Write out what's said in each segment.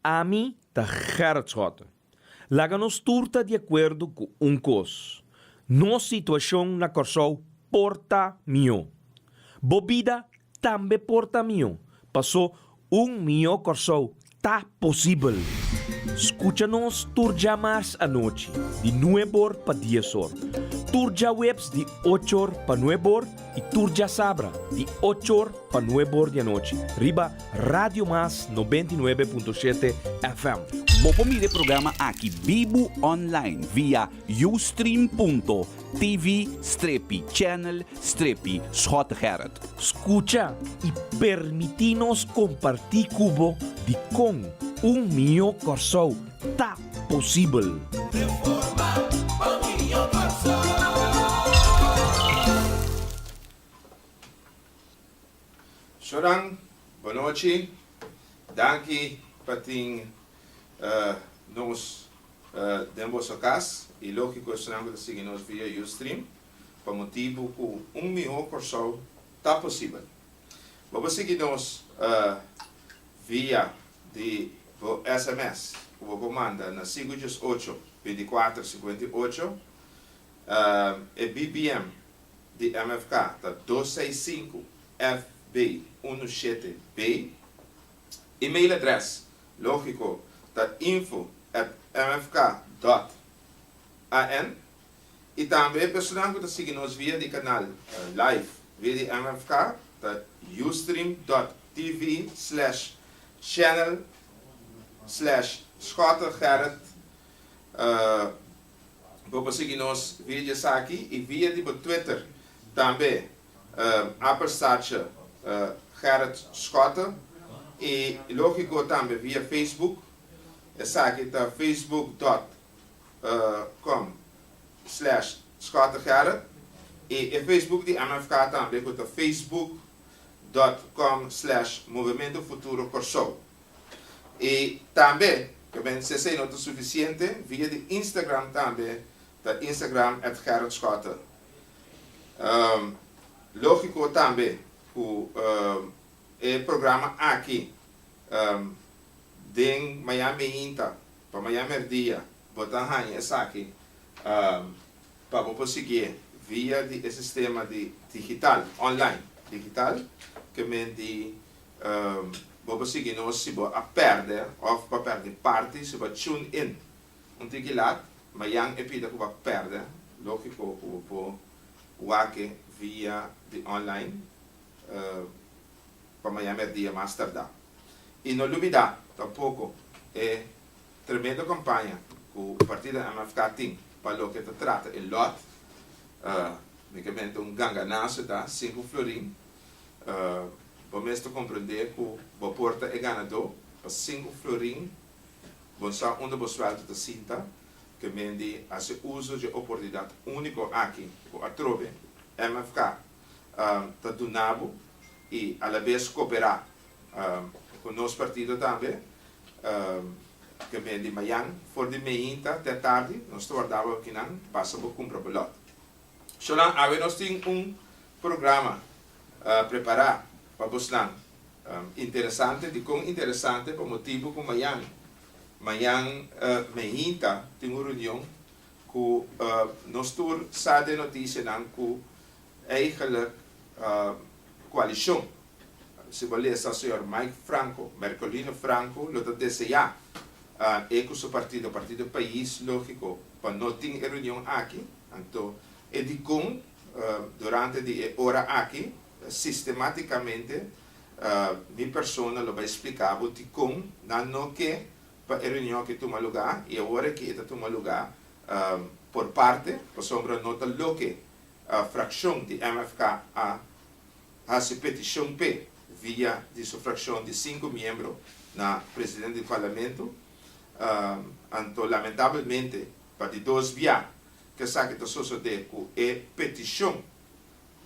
Ami ta Gerrit Schotten. Laga nos tur ta di akuerdo ku un kos, nos situashon na Kòrsou por ta mihó. Bo bida tambe por ta mihó, pasó un mihó Kòrsou ta posibel! Skucha nos tur dja mars anochi di nueb or pa dies or, tur djaweps di och or pa nueb or, Y tur djasabra di ocho or pa nuebe or di anochi riba Radio Mas noventa y nuebe punto shete FM. Bo por mira e programa aki bibu online via Ustream punto TV strepi channel strepi Schot Gerrit. Scucha y permiti nos comparti cu bo dicon un mihó Corsou ta. posibel. Sho dan, bonochi. Danki pa tin nos den boso kas i lógiko esnan ku ta sigui nos via Ustream pa motibu ku un mihó Kòrsou ta posibel. Bo por sigui nos via di bo sms ku bo por manda na sinku djes ocho, binticuater sinkuenta i ocho. E BBM di MFK ta dos seis sinku FB unu shete B. Email adres lógiko ta info at mfk dòt an. I tambe e personanan ku ta sigui nos via di kanal live via di MFK ta ustream dot TV slash channel slash Schotte Gerrit bo por sigui nos via di esaki i via di bo Twitter tambe apenstaartje Gerrit Schotte i lógiko tambe via Facebook esaki ta facebook dot com slash scottegerrit y e Facebook di MFK tambe cu ta facebook dot com slash Movimiento Futuro Corsou. Y tambe, ta bensé esey no ta suficiente, via di Instagram tambe ta Instagram at Gerrit Schotte. Logico tambe cu e programa aki den Miami Hinta Pa maña merdia bo ta haña esaki pa bo por siguié via di e sistema di digital, online, digital, ke men di bo por sigui nos si bo a pèrdè òf bo a pèrdè parti, si bo a tune in un tiki lat, mañan e pida ku bo a pèrdè, lógiko ku bo por wak-e via di online pa maña merdia mas tardá. I no lubidá tampoko e tremendo kampaña ku partido MFK tin pa loke ta trata e lòt, únikamente un ganganaso ta sinku florin. Bo mes ta komprendé ku bo por ta e ganadó, pa sinku florin bo sa unda bo suèldo ta sinta. Ke men di hasi uso dje oportunidat úniko aki ku atrobe MFK ta duna bo y alabes cooperá cu nos partido tambe. Te meen di mayan for di meinta te tardi nos ta warda bo akinan pasa bo cumpra bo lot. Zolang awe nos tin un programa prepará pa bosnan interesante di con interesante pa motibo cu mayan mayan meinta tin un reunion. Ku nos tur sa den notisianan ku eigelijk koalishon, si bo lesa señor Mike Franco, Mercolino Franco, lo ta deseá e ku su partido, Partido Pais, lógiko, pa no tin e reunion aki, anto e dikon durante di e ora aki sistemátikamente mi persona lo bai spliká bo dikon nan no ke pa e reunion ke tuma lugá i awor aki e ta tuma lugá por parte pasobra no ta loke frakshon di MFK a hasi petishon p'e via di su frakshon di sinku miembro na presidente di Parlamento anto lamentabelmente pa di dos bia ke esaki ta sosodé ku e petishon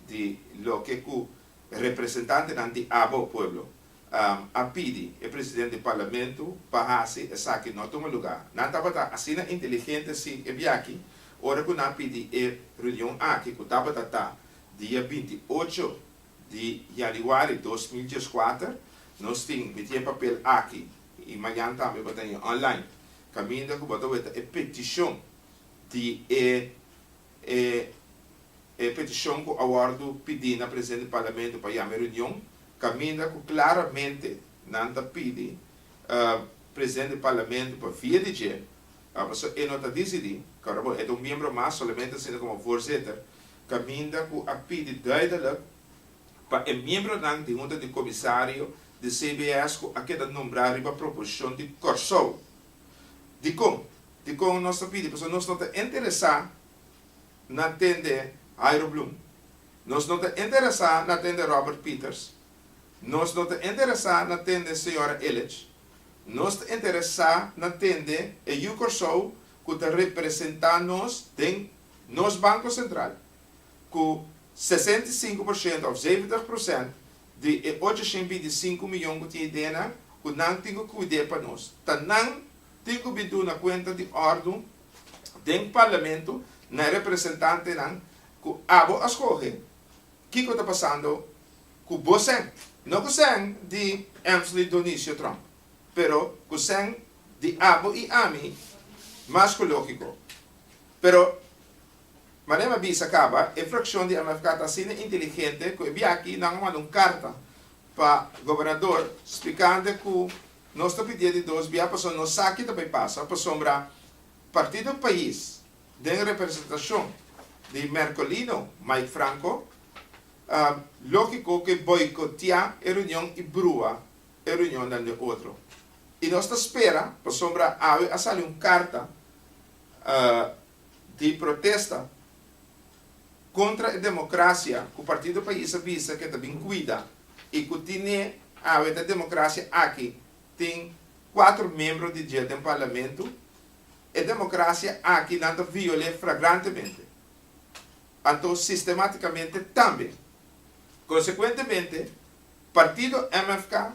di loke ku representantenan di abo pueblo a pidi e president di parlamento pa hasi esaki no tuma luga. Nan tabata asina inteligente si e biachi ora cu nan pidi e reunion aki cu tabata ta dia binti ocho di januari dos mil dieskuater. Nos tin miti e papel aki y mañan tambe bo ta hin online caminda cu bo ta weta e peticion di e. E e peticion cu a wordo pidi na presidente di Parlamento pa yama e reunion caminda cu claramente nan ta pidi presidente di Parlamento pa via di dje a pasobra e no ta dicidi ora bo e ta un miembro mas solamente asina como voorzitter caminda cu a pidi duidelijk pa e miembronan di hunta di comisario di CBS cu a keda nombra riba proposicion di Corsou dicon Dikon nos ta pidi pasobra nos no ta interesá na tende Hairo Bloem, nos no ta interesá na tende Robert Pieters, nos no ta interesá na tende señora Illich, nos ta interesá na tende e Yu Kòrsou ku ta representá nos den nos Banko Sentral ku sesenta i sinku por shento òf zeventig prosènt di e ocho shent binti i sinku miyon ku tin idenan ku nan tin ku kuid'é pa nos ta nan Tin cu bin duna cuenta di ordun den Parlamento na e representantenan cu abo a scoge. Kico ta pasando cu bosen? No cu sen di Emsley Donicio Trump, pero cu sen di abo y ami mas cu logico. Pero mane mi a bisa caba, e fraccion di MFK ta asina inteligente cu e biaki nan a manda un carta pa Gobernador spicande cu Nos ta pidié di dos bia pasobra nos sa ki ta bai pasa pasobra Partido Pais den representashon di Mercolino Mike Franco ta lógiko ku e boikoteá e reunion i brua e reunionnan den otro. I nos ta spera pasobra awe a sali un karta di protesta. kontra e demokrasia ku Partido Pais a bisa ku e ta bin kuida i ku tine awe ta demokrasia aki tin kuater membro di dje den parlamentu, e demokrasia aki nan ta viol'é fragrantemente, anto sistematikamente tambe. Konsekuentemente, partido MFK,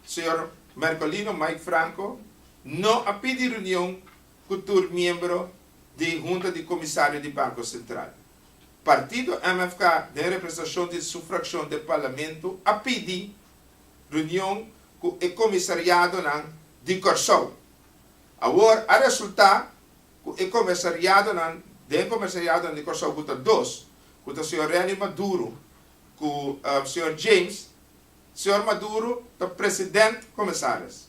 señor Mercolino Mike Franco, no a pidi reunion, ku tur miembro di Hunta di Komisario di Banko Sentral. Partido MFK den representashon di su frakshon den Parlamento a pidi reunion ku e komisariadonan di Kòrsou. Awor a resultá ku e komisariadonan den komisariadonan di Kòrsou ku ta dos, ku ta señor Renny Maduro ku señor James, señor Maduro ta president komisaris.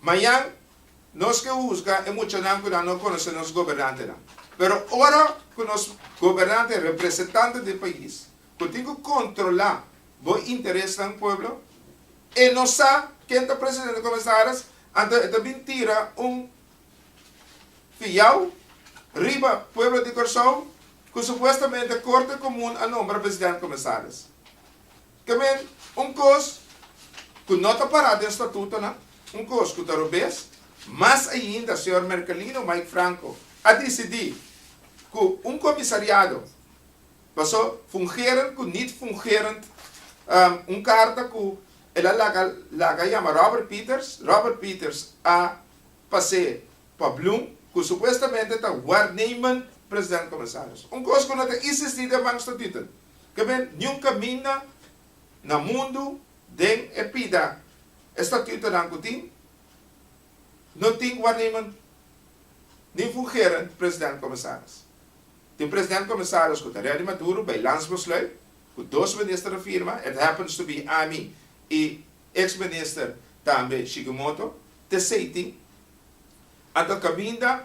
Mañan nos ke husga e muchanan ku nan no konosé nos gobernantenan. Pero ora ku nos gobernante, representante di pais, ku tin ku kontrolá bo interesnan pueblo, e no sa ken ta presidente komensaris, anto e ta bin tira un fiyau riba pueblo di Kòrsou, ku supuestamente Korte Komun a nombra presidente komensaris. Tambe un kos ku no ta pará den statutonan, un kos ku ta robes. Mas ainda señor Mercalino Mike Franco a disidí ku un komisariado paso fungerend ku nit fungerend un karta ku el a laga laga yama Robert Pieters. Robert Pieters a pas'é pa Bloem ku supuestamente ta warnemen president komisaris. Un kos ku no ta isistí den Bank Statuten. Kab'é niun kaminda na mundu den e pida estatutonan ku tin, no tin warnemen nin fungerend president-komisaris. Tin president-komisaris ku ta redi Maduro bai lans besluit ku dos minister a firma, it happens to be ami i eks minister tambe Shikimoto, t'esei tin anto kaminda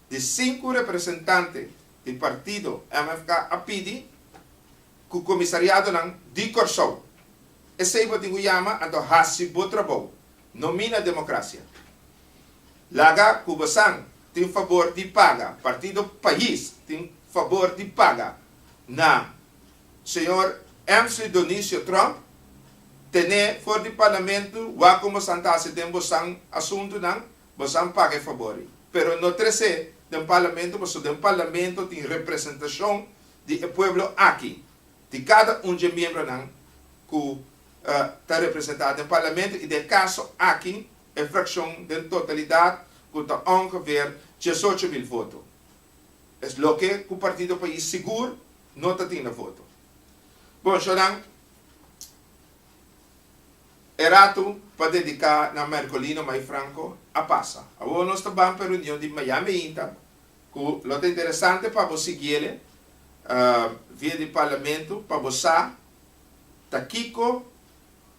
di sinku representante di partido MFK a pidi ku komisariadonan di Kòrsou, esei bo tin ku yama anto hasi bo trabou, no mina demokrasia. Laga ku bosan tin fabor di paga, partido Pais tin fabor di paga na señor MC. Donicio Trump, ten'é for di parlamentu wak kon bosan ta hasi den bosan asuntunan, Bo san paga e fabor ei. Pero no tres'é den Parlamento paso den Parlamento tin representashon di e pueblo aki, di kada un dje miembronan ku ta representá den Parlamento i den kaso aki e frakshon den totalidat ku ta ongeveer diesocho mil voto. Es loke ku Partido Pais sigur no ta tin na voto. Bon, shornan. E ratu pa dediká na Mercolino Mai Franco a pasa. Awor nos ta ban pa e reunion di Miami Inta ku lo ta interesante pa bo siguiele via di Parlamento pa bo sa ta kiko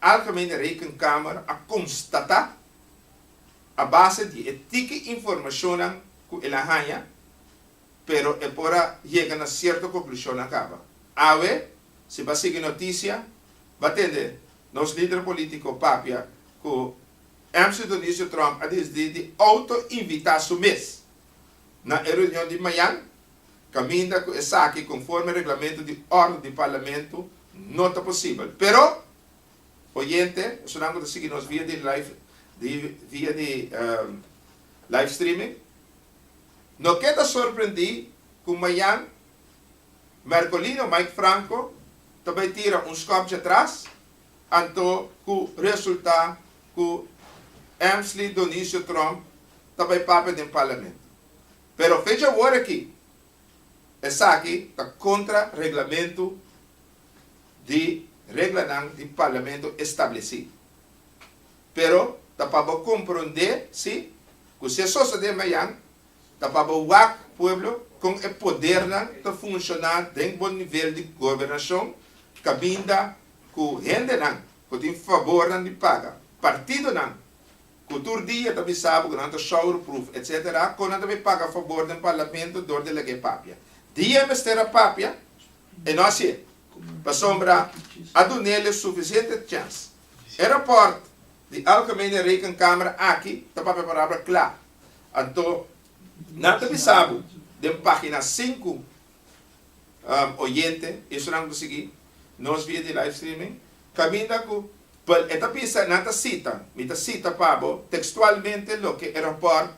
Algemene Rekenkamer a konstatá a base di e tiki informashonnan ku el a haña. pero e por a yega na sierto konklushonnan kaba. Awe, si bo a sigui notisia, bo a tende nos lider polítiko papia ku MC Dionisio Trump a disdi di outo-invitá su mes na e reunion di mañan, kaminda ku esaki konforme reglamentu di òrdu di Parlamentu no ta posibel. Pero, oyente, esnan ku ta sigui nos via di live di via di live streaming, No ke ta sorprendí ku mañan mèrkolino Mike Franco ta bai tira un skòpchi atras anto ku resultá ku Emsley Donisio Tromp ta bai papia den parlamento. Pero fechi awor aki esaki ta kontra reglamentu di reglanan di parlamento establesí. Pero ta pa bo komprondé, sí, ku si e sosodé mayan, ta pa bo wak, pueblo, kon e podernan ta funshoná den bo nivel di gobernashon, kabinda ku hendenan ku tin fabornan di paga, partidonan ku tur dia ta bisa bo ku nan ta showroproof, etc. Kon nan ta bay paga fabor den parlamento dor di laga e papia. Dia e mester a papia, e no hasié. Pasobra a dun'é el e sufisiente chèns. E rapport di Algemene Rekenkamer aki ta papia parabra kla, anto nan ta bisa bo den pagina sinku, oyente, esnan ku sigui nos via di live streaming, kaminda ku e ta bisa nan ta sita, mi ta sita pa bo tekstualmente loke e rapport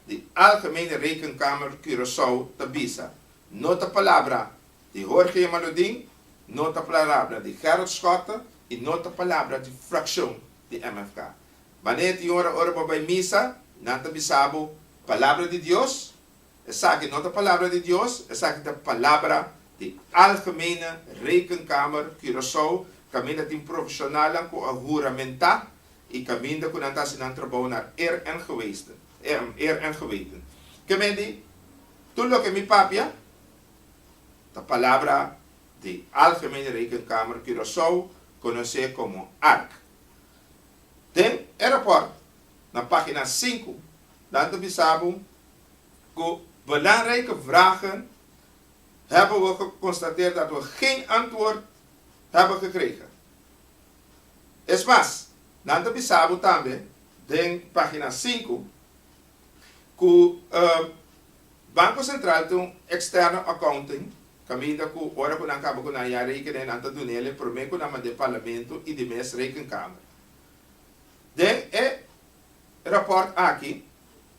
di Algemene Rekenkamer Curaçao ta bisa, no ta palabra Di Jorge Yamaludin no ta plarabra di Gerald Schotte y no ta palabra di fraccion di MFK. Baneer tin ora ora bo bay misa, nan ta bisa bo, Palabra di Dios? Esaki no ta palabra di Dios, esaki ta palabra di Algemene Rekenkamer Curaçao, caminda tin profesionalnan cu a huramenta y caminda cu nan ta haci nan trabao naar eer en gewesten, eer en geweten. Ke men di? Tur loke mi papia? Ta palabra di Algemene Rekenkamer Curaçao conoce como arc. Den e rapport na pagina sinku nan ta bisa bo cu belangrijke vragen hebben we geconstateerd dat we geen antwoord hebben gekregen. Es mas, nan ta bisa bo tambe den pagina sinku, Ku Banko Sentral ta un externo accounting, kaminda ku ora ku nan kaba ku nan ya rekening nan ta dunel e promé ku nan manda e Parlamento i di mes Rekenkamer. Den e raport aki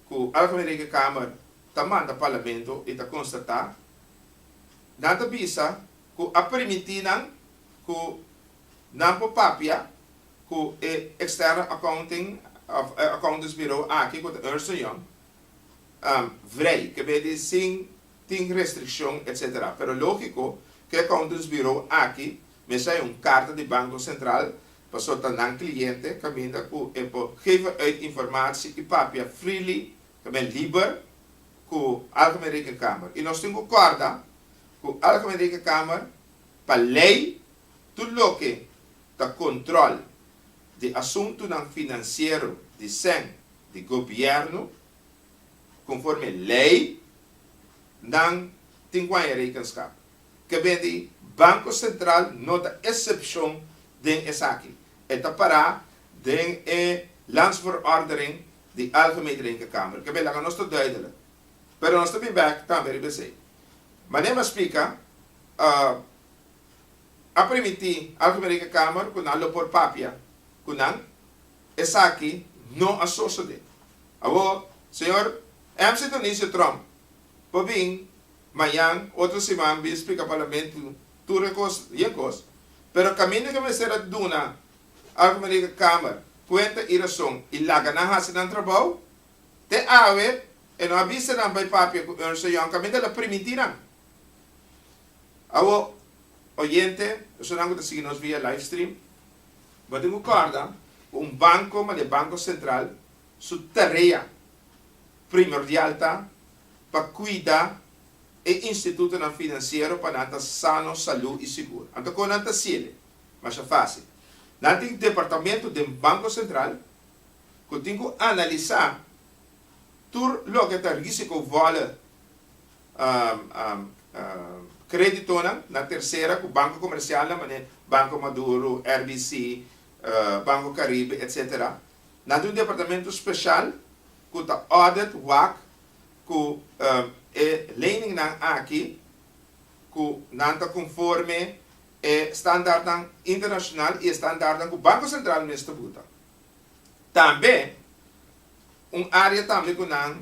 ku Algemen Rekenkamer ta manda Parlamento i ta konstatá, nan ta bisa ku a permiti nan ku. Nan por papia cu e externo accounting of accountants bureau aki cu ta Ernst and Young vrij, kebe di sin tin restriccion etc. Pero logico cu e accountants bureau aki mester hay un carta di Banco Central pasobra ta nan cliente caminda cu e por geven uit informatie y papia freely, ta ben liber, cu Algemene Rekenkamer. Y nos tin cu corda cu Algemene Rekenkamer pa ley Tur loke ta control di asuntunan financiero di sen di Gobierno, conforme ley, nan tin guaña rekenskap. Kebe di Banco Central no ta excepcion den esaki. E ta para den e Landsverordening di Algemene Rekenkamer. Kebe laga nos ta duidelijk. Pero nos ta bin bek tambe riba esei. Mane mas spica, a primiti Alto Mereka Kamer ku nan lo por papia ku nan, esaki no a sosode. Awor, señor MC. Dionisio Trump por bin mañan otro siman bin splika Parlamento tur e kos yen kos, pero kaminda ke mester a duna Alto Mereka Kamer kuenta i rason i laga nan hasi nan trabou, te awe e no a bisa nan bai papia ku Ernst & Young kaminda el a primiti nan. Awo, oyente, personan ku ta sigui nos via livestream, bo tin ku kòrda ku un banko komo e Banko Sentral su tarea primordial ta pa kuida e institutonan finansiero pa nan ta sano, salú i sigur. Anto kon nan ta hasiele? Masha fásil. Nan tin departamentu den Banko Sentral ku tin ku analisá tur loke ta rísiko vòlè kreditonan na tersera ku banko komersialnan manera Banko Maduro, RBC, Banko Karibe etc. Nan tin un departamentu speshal ku ta audit wak ku e leningnan aki ku nan ta konforme e standartnan internashonal i e standartnan ku Banko Sentral mes ta buta. Tambe un área tambe ku nan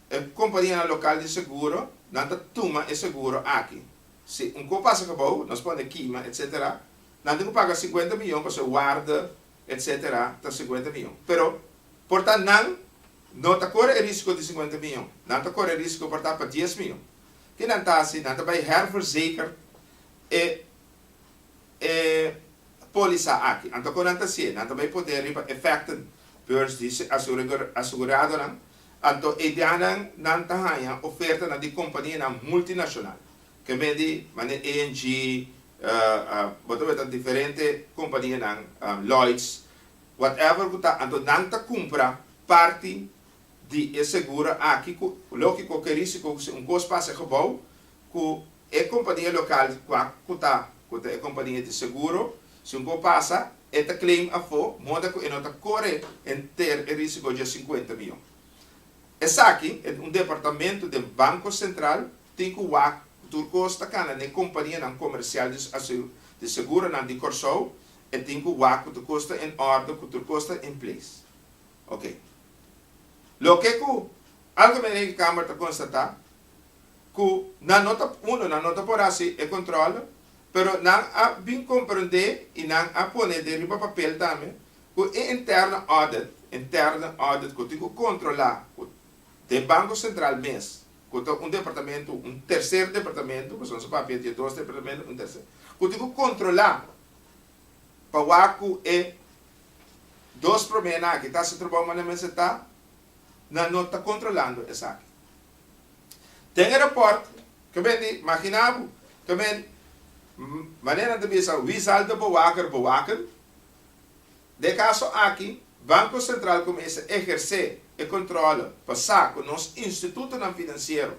E kompanianan lokal di seguro nan ta tuma e seguro aki. Si un ko pasa kabou, nos pone kima, etc. Nan tin ku paga sinkuenta miyon pasobra e warde, etc. Ta sinkuenta miyon. Pero por ta nan no ta kore e risko di sinkuenta miyon. Nan ta kore e risko por ta pa dies miyon. Ke nan ta hasi? Nan ta bai herverzeker e e polisa aki. Anto kon nan ta hasié? Nan ta bai pote riba efekten beurs di aseguradonan Anto e dianan nan ta haña ofertanan di kompanianan multinacional, kende di mane ENG, bo ta weta diferente kompanianan, Lloyds, whatever ku ta, anto nan ta kumpra parti di e seguro aki ku logico ke risiko ku si un kos pasa e gebou ku E kompania lokal wak ku ta ku ta e kompania di seguro, si un ko pasa e ta claim afó moda ku e no ta kore henter e risiko dje sinkuenta mion. Esaki e un departamentu den Banko Sentral tin ku wak ku tur kos ta kana n'e kompanianan komersial di asegu di seguronan di Kòrsou, e tin ku wak ku tur kos ta en òrdu, ku tur kos ta in place. Oke. Loke ku Algemene Rekenkamer ta konstatá. ku nan no ta, uno, nan no ta por hasi e kòntròl, pero nan a bin komprendé i nan a pone den riba papel tambe ku e interno audit, interno audit ku tin ku kontrolá ku den Banko Sentral mes, ku ta un departamentu, un terser departamentu, pasobra nos a papia di e dos departamentu, un terser, ku tin ku kontrolá pa wak ku e dos promé nan aki ta hasi trabou manera mester ta, nan no ta kontrolando esaki. Ten e report ke men di magina bo ke men manera nan ta bisa wie zal de bewaker bewaken. Den e kaso aki Banko Sentral kuminsha ehersé e kontrole pa sa ku nos institutonan finansiero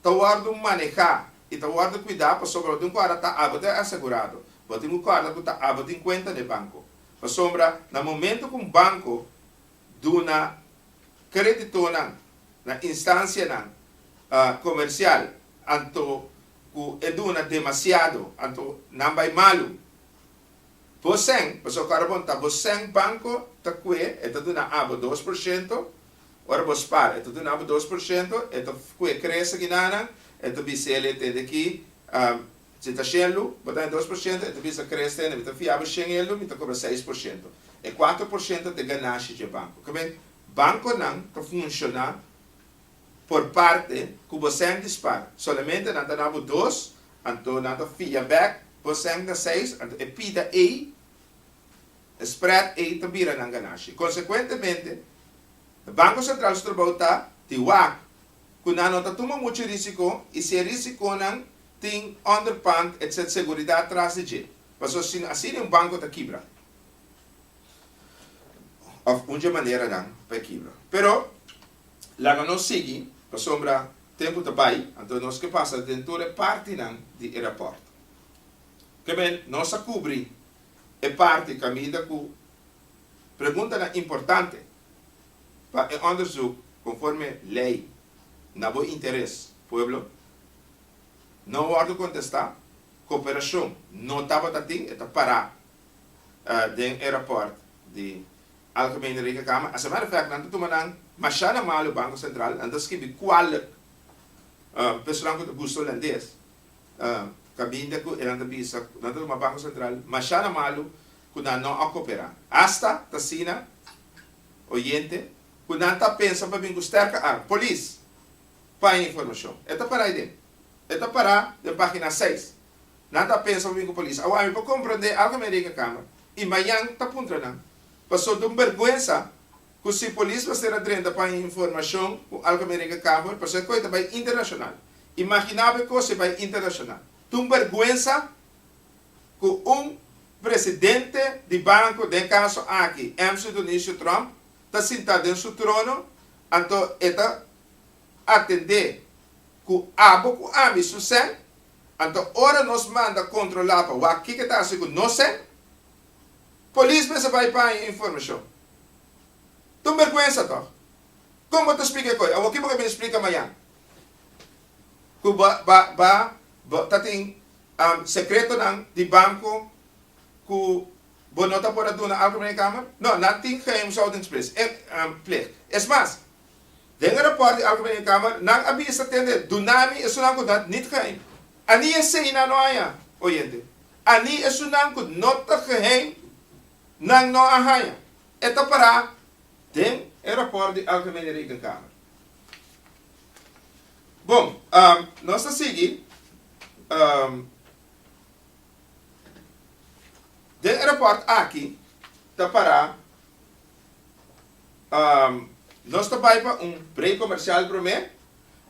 ta wòrdu manehá i ta wòrdu kuidá pasobra tin ku ora ta aba ta e asegurado. Bo tin ku kòrda ku ta aba tin kuenta na e banko pasobra na momentu ku un banko duna kreditonan na instansianan komersial anto ku e duna demasiado anto nan bai malu. Bo sèn, pasobra ku ora bo nta bo sèn banko ta kue, e ta duna abo dos por shento, ora bo spar e ta duna abo dos por shento, e ta kue krese ki nanan, e ta bis'el e tende ki Si ta shen lu, bo ta den dos por shento, e ta bisa, Kere esta hende, mi ta fia bo shen el lu, mi ta kobra seis por shento. E kuater por shento ta e ganashi dje banko. Ka bai, bankonan ta funshoná por parte ku bo sèn dispar. Solamente nan ta na bo dos, anto nan ta fia bèk bo sèn na seis, anto e pida ei, e spread ei ta bira nan ganashi. Konsekuentemente, e Banko Sentral su trabou ta di wak ku nan no ta tuma muchu risiko i si e risikonan tin underpand etc seguridat tras di dje, paso si asina un banko ta kibra òf un dje maneranan pa e kibra. Pero laga nos sigui pasobra tempu ta bai anto nos ke pasa den tur e partinan di e rapòrt. Kebien nos a kubri e parti kaminda ku preguntanan importante. pa e onderzoek conforme ley na bo interes pueblo no wordo contesta cooperacion no tabata tin e ta para den e rapport di Algemene Rekenkamer a semera efect nan ta tuma nan masha na malo Banco Central nan ta skibi kualek personan cu ta gusta Holandes cabinda cu eran ta bisa cu nan ta tuma Banco Central masha na malo cu nan no a coopera hasta ta asina Oyente cu nan ta pensa pa bin cu sterke arm. Polis. Paña informacion. E ta para aiden. E ta para den pagina seis. Nan ta pensa pa bin cu polis. Awor ami por comprende algo me Rekenkamer y mañan ta puntra nan. Pasobra ta un berguensa cu si polis mester a drenta paña informacion cu algo me Rekenkamer pasobra e coy ta bay internacional. Imagina bo e cos si bay internacional. Ta un berguensa ku un presidente di banko, den kaso aki MC Donicio Trump, ta sintá den su trono, anto e ta atendé ku abo ku ami su sèn, anto ora nos manda kontrolá pa wak kiko ta hasi ku nos sèn, polis mester bai paña e informashon. Ton berkuensa tòg! Kon bo ta splika e kos? Awor kico bo ta bini splika mañan? cu ba ba ba bo ta tin secretonan di banco cu bo no ta por a duna al Gemene Kamer? No, nan tin geheimshoudingsplicht. Es mas, den e rapport di al Gemene Kamer nan a bisa tende duna mi esunnan cu ta niet geheim. Annie esey nan no haña, oyente. Annie esunnan cu no ta geheim nan no a haña. E ta para den e rapport di al Gemene Rekenkamer. Bon, nos ta sigui. Den aeroport aki ta para. Nos ta bai pa un break comercial prome.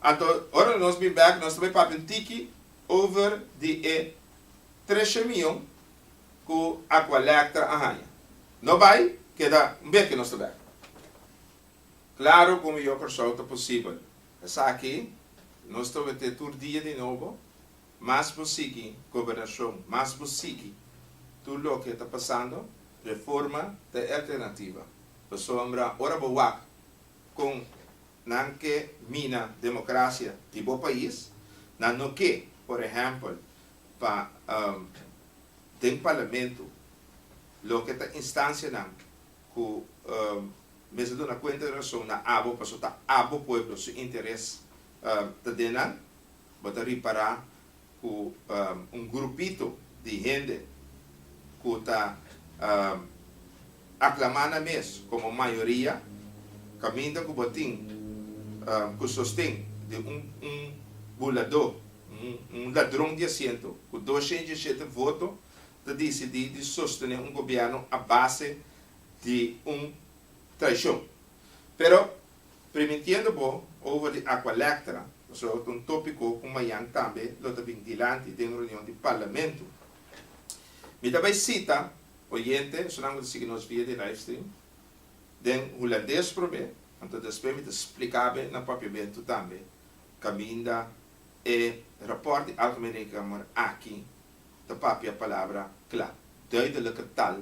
Anto ora nos bin back nos ta bai papia un tiki over di e treshe mion cu Aqualectra a haya. No bai, keda un beke nos ta back. Claro cu un mihor persona ta posibel. Esaki nos ta mete tur dia di nobo, mas bo sigui gobernacion, mas bo sigui tur loke ta pasando, reforma ta e alternativa. Pasobra ora bo wak con nan ke mina democracia di bo pais, nan no ke, por ehempel, pa den parlamento, loke ta instancianan cu mester duna kuenta di rason na abo paso ta abo pueblo su interes ta den nan, bo ta ripara ku un grupito di hende ku ta aklamá nan mes komo mayoria kaminda ku bo tin ku sosten di un buladó, un ladron di asiento ku dos shentdi e shete voto ta disidí di sostené un gobièrnu a base di un traishon. Pero, primintiendo bo over di Aqualectra, pasobra ta un tópiko ku mañan tambe lo ta bin dilanti den reunion di Parlamento. Mi ta bai sita oyente, esunnan ku ta sigui nos via di livestream, den hulandes promé, anto despues mi ta splika be na papiamentu tambe kaminda e rapòrt di Algemene Rekenkamer aki ta papia palabra kla, duidelijke taal,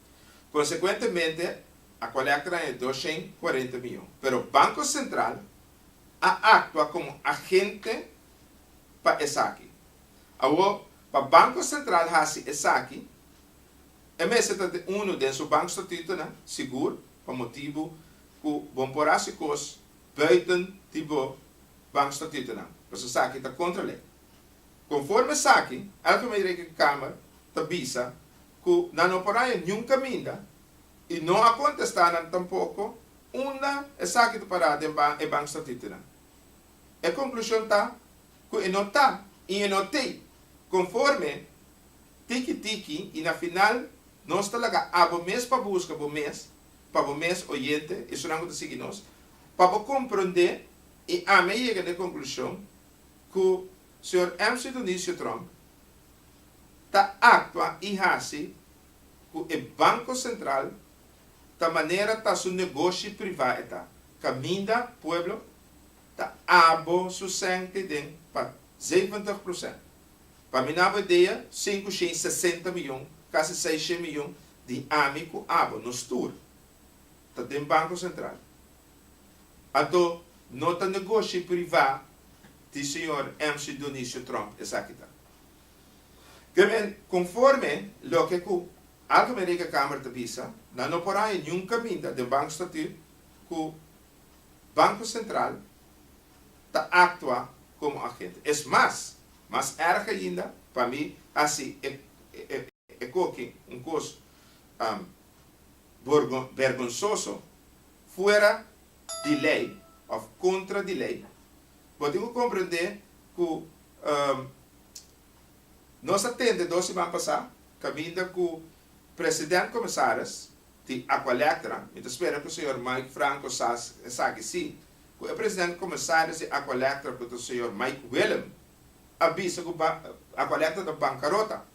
Consecuentemente a colecta nan e dos sheen cuarenta miyon. Pero Banco Central a actua como agente pa esaki. Awor, pa Banco Central haci esaki, e mester ta den uno den su bankstatutonan sigur pa motibo cu bo por haci cos buiten di bo bankstatutonan, pasobra esaki ta contra ley. Conforme esaki, elke manera cu e Kamer ta bisa, ku nan no por haña niun kaminda i no a kontestá nan tampoko unda esaki ta pará den e bank statutinan. E konklushon ta ku e no ta i e no tei konforme tiki tiki i na final nos ta laga abo mes pa buska bo mes, pa bo mes oyente, esunnan ku ta sigui nos, pa bo komprondé i ami a yega na e konklushon ku Señor MC. Dionisio Trump ta actua y haci cu e Banco Central ta manera ta su negoshi priva e ta, caminda pueblo ta abo su cente den pa zeventig procent. Pa mi nabo idea cinco shen sesenta millon, casi seis shen millon di ami cu abo nos tur ta den Banco Central. Ato, no ta negoshi privá di señor MC. Dionisio Trump esaki ta. Te men, konforme loke ku Alto men Rekenkamer ta bisa, nan no por haña niun kaminda den bankstatuut ku Banko Sentral ta aktua komo agente. Es mas, mas èrg ainda, pa mi hasi e koki un kos bergonsoso. fuera di lei of contra di lei, bo tin cu comprende cu nos a tende dos siman pasa caminda cu President Comisaris di Aqualectra, mi ta spera cu Señor Mike Franco sa esaki si, cu e President Comisaris di Aqualectra cu ta Señor Mike Willem a bisa cu Aqualectra ta bancarota.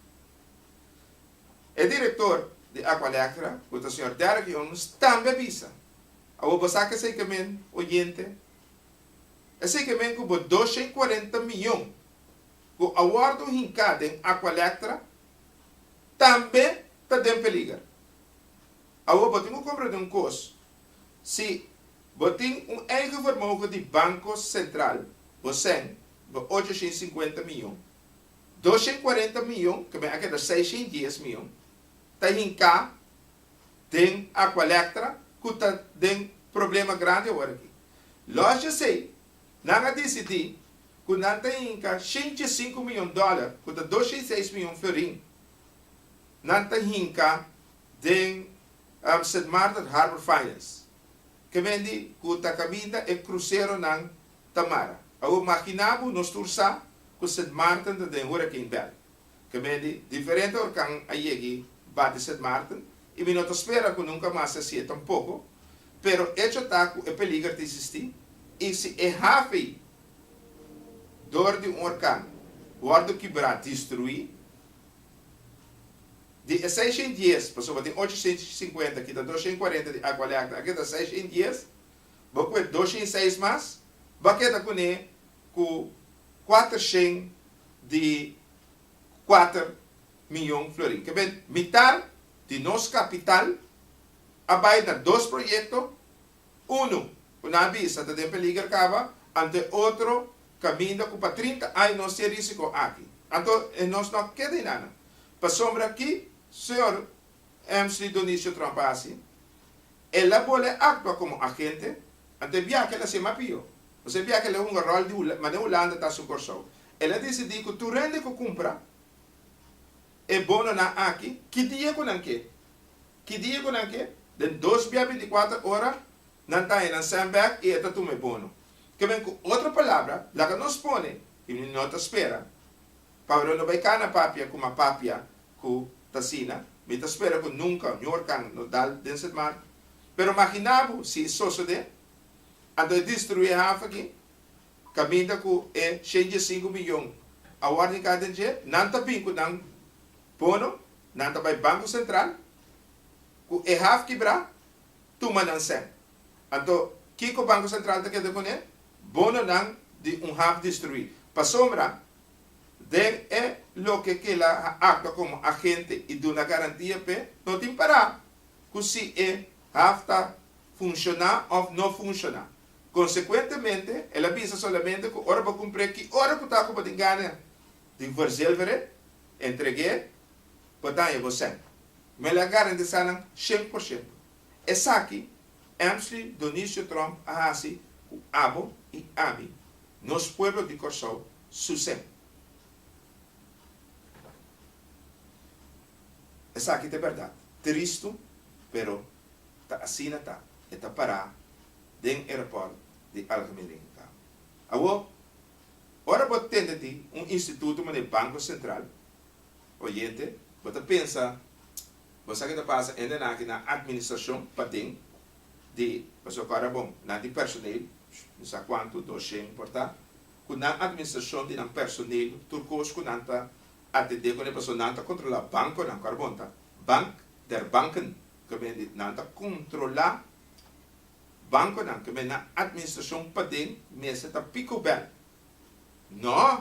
E direktor di Aqualectra, ku ta señor Derek Jones, tambe a bisa, Awor bo sa ke esei ke men, oyente? Esei ke men ku bo dosha i kuarenta miyon ku a wòrdu hinká den Aqualectra tambe ta den peliger. Awor bo tin ku komprendé un kos, si bo tin un eigen vermogen di Banko Sentral, bo sèn, bo ocho shin sinkuenta miyon. dos shent kuarenta miyon, ku bin a keda seis shent dies miyon, ta hinká den Aqualectra ku ta den problema grandi awor aki. Lòs djesei, nan a disidí ku nan ta hinka shent diesinku miyon dòler, ku ta dos shent seis miyon florin, nan ta hinka den Sint Maarten Harbour Finance, ke mendi ku ta kaminda e kruseronan. Tamara, Awor makina bo nos tur sa ku Sint Maarten ta den huraken bèl. Kemendi diferente horkan a yegi bati Sint Maarten i mi no ta spera ku nunka mas ta hasié tampoko, pero echo ta ku e peliger ta existí i si e hafe dor di un horkan wòrdu kibrá, destruí, di e seishen dies, pasobra tin ocho shen sinkuenta kita dos shen kuarenta di Aqua Leacta, ake ta seishen dies. bo kue doshen i seis mas, bo a keda kuné ku kuatershen di kuater mion florin. Kebé mitar di nos kapital a bai na dos proyekto, unu ku nan a bisa ta den peliger kaba, anto e otro kaminda ku pa trinta aña nos tin e risiko aki. Anto e nos no a keda hinana. Pasobra ki señor Emsley Donicio Tromp a hasi? El a bole actua como agente, ante biaha el a sema pio. P'esei biaha el a hunga rol di mane Hulanda ta su Corsou. El a dicidi cu tur hende cu cumpra e bononan aki, ki dia cu nan ke. Ki dia cu nan ke, den dos bia binticuater ora nan ta hennan Sandberg y e ta tuma e bono. Kemen cu otro palabra, laga nos pone, y no ta spera. Pablo no bay cana papia cu ma papia cu t'asina. Mi ta spera cu nunca un horcan no dal den Sint Maarten. Pero magina bo si e sosode, anto e distrui e haven aki, caminda cu e shenta i sinku miyon a worde hincá den dje, nan ta bin cu nan bono, nan ta bay Banco Central, cu e haven kibrá, tuma nan sen. Anto, kico Banco Central ta keda cune? Bononan di un haven distrui. Pasobra Den e loke kela a actua como agente y duna garantia p'e, no tin para cu si e haf ta funciona of no funciona. Consecuentemente, el a bisa solamente cu ora bo cumpre ki ora cu ta cu bo tin gana di verzilvere, entreg'e, bo taña bo cent. M'el a garantisa nan cien por ciento. Esaki Emsley Donicio Trump a hasi ku abo i ami, nos pueblo di Kòrsou, suse. Esaki ta bèrdat. Tristu, pero ta asina ta. E ta pará den Aeroport di Algemeen Lindenkamp. Awor, ora bo tende di un instituto manera Banco Central, oyente, bo ta pensa, Bo sa ke ta pasa ende nan aki na administrashon paden di pasobra ku Arabon nan tin personel, mi sa kuantu, dos shen por ta, ku nan administrashon di nan personel tur kos ku nan ta atendé kuné pasobra nan ta kontrolá bankonan ku Arabon ta bank der banken ke men di nan ta kontrolá bankonan ke men na administrashon paden mester ta picobel. Nò!